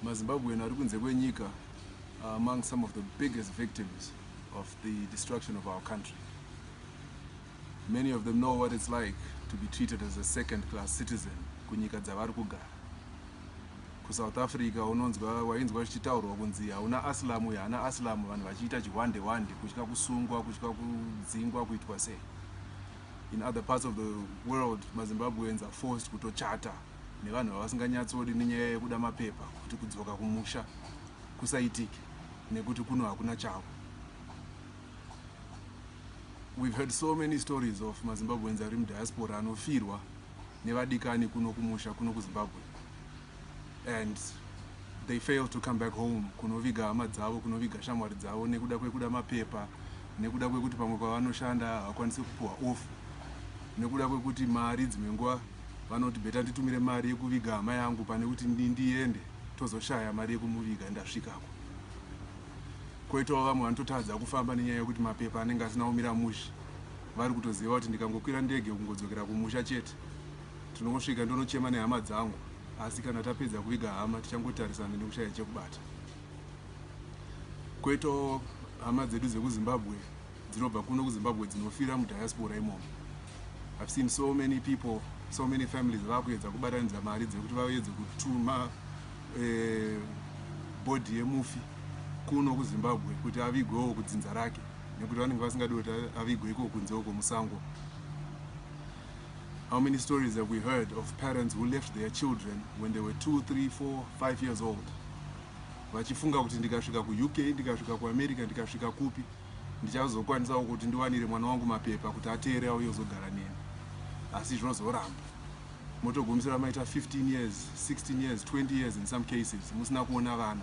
mazimbabwean ari kunze kwenyika are among some of the biggest victims of the destruction of our country many of them know what it's like to be treated as a second class citizen kunyika dzavari kugara kusouth africa unonzwa wainzwa zvichitaurwa kunzi hauna asilamu uyo haana asilamu vanhu vachiita chihwande hwande kutya kusungwa kutya kudzingwa kuitwa sei in other parts of the world mazimbabweans are forced kutochata nevanhu vavasinganyatsodi nenyaya yekuda mapepa kuti kudzoka kumusha kusaitike nekuti kuno hakuna chavo. We've heard so many stories of maZimbabweans ari mudiaspora anofirwa nevadikani kuno kumusha kuno kuZimbabwe and they fail to come back home kunoviga hama dzavo kunoviga shamwari dzavo nekuda kwekuda mapepa nekuda kwekuti pamwe kwavanoshanda havakwanisi kupuhwa off nekuda kwekuti mari dzimwe nguva vanoti better nditumire mari yekuviga hama yangu pane kuti ndiende tozoshaya mari yekumuviga ndasvikako. Koitawo vamwe vanototadza kufamba nenyaya yekuti mapepa anenge asina kumira mushe. Vari kutoziva kuti ndikangokwira ndege kungodzokera kumusha chete. Tinongosvika ndonochema nehama dzangu asi kana tapedza kuviga hama tichangotarisana nekushaya chekubata. Koitawo hama dzedu dzekuZimbabwe dzinobva kuno kuZimbabwe dzinofira mudiaspora imomo. I've seen so many people so many families vakuedza kubatanidza mari dzekuti vaedze kutuma eh, bhodhi yemufi kuno kuzimbabwe kuti avigwewo kudzinza rake nekuti vanenge vasingadi kuti avigwe iko kunze uko musango how many stories have we heard of parents who left their children when they were two three four five years old vachifunga kuti ndikasvika kuuk ndikasvika kuamerica ndikasvika kupi ndichazokwanisawo kuti ndiwanire mwana wangu mapepa kuti ateere auye kuzogara neni asi zvozoramba motogumisira maita 15 years 16 years 20 years in some cases musina kuona vana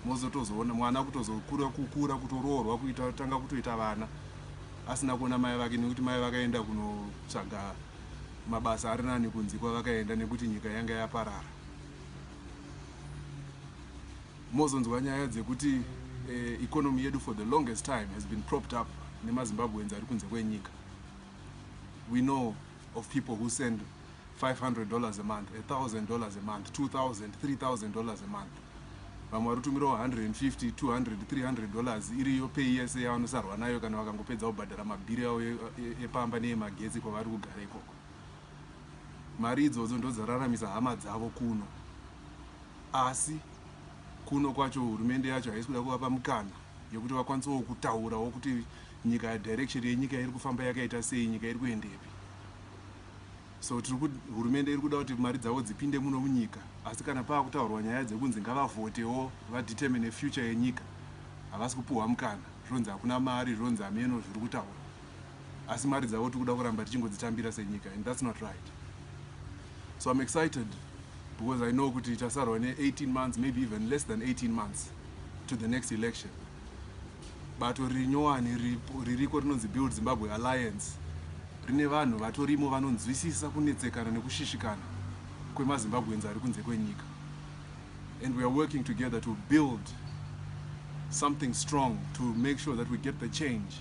mozotozoona mwana kutozokura kukura kutoroorwa kuita tanga kutoita vana asina kuona mai vake nekuti mai vakaenda kunotsvaga mabasa ari nani kunzi kwavakaenda nekuti nyika yanga yaparara Mozonzwa nyaya dzekuti economy yedu for the longest time has been propped up nemaZimbabweans ari kunze kwenyika. We know of people who send 500 dollars a month, 1000 dollars a month, 2000, 3000 dollars a month. Vamwe vari kutumirawo 150, 200, 300 dollars iriyo pay yese yavanosarwa nayo kana vakangopedza kubhadhara mabhiri avo epamba neyemagetsi kwavari kugara ikoko. Mari idzodzo ndodzararamisa hama dzavo kuno. Asi kuno kwacho hurumende yacho haisi kuda kuvapa mukana yekuti vakwanisewo kutaurawo kuti nyika direction yenyika iri kufamba yakaita sei nyika iri kuendepi so tiri kuti hurumende iri kuda kuti mari dzavo dzipinde muno munyika asi kana pava kutaurwa nyaya dzekunzi ngavavhotewo vadetermine future yenyika havasi kupuhwa mukana zvonzi hakuna mari zvonzi hameno zviri kutaura asi mari dzavo tikuda kuramba tichingodzitambira senyika and that's not right so I'm excited because I know kuti tasarwa ne 18 months maybe even less than 18 months to the next election bato riri nyowani ririko rinonzi build Zimbabwe Alliance rine vanhu vatorimo vanonzwisisa kunetsekana nekushishikana kwemazimbabweans ari kunze kwenyika and we are working together to build something strong to make sure that we get the change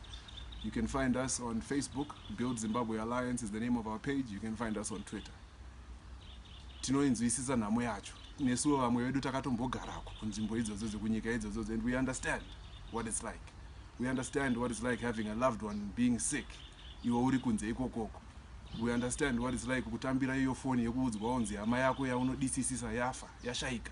You can find us on Facebook, Build Zimbabwe Alliance is the name of our page. You can find us on Twitter. Tinoinzwisisa nhamo yacho. Nesuwo vamwe vedu takatombogarako kunzvimbo idzodzo dzekunyika idzodzo and we understand what it's like. We understand what it's like having a loved one being sick. Iwe uri kunze ikokoko. We understand what it's like kutambira iyo foni yekuudzwa onzi hama yako yaunodisisisa yafa, yashaika.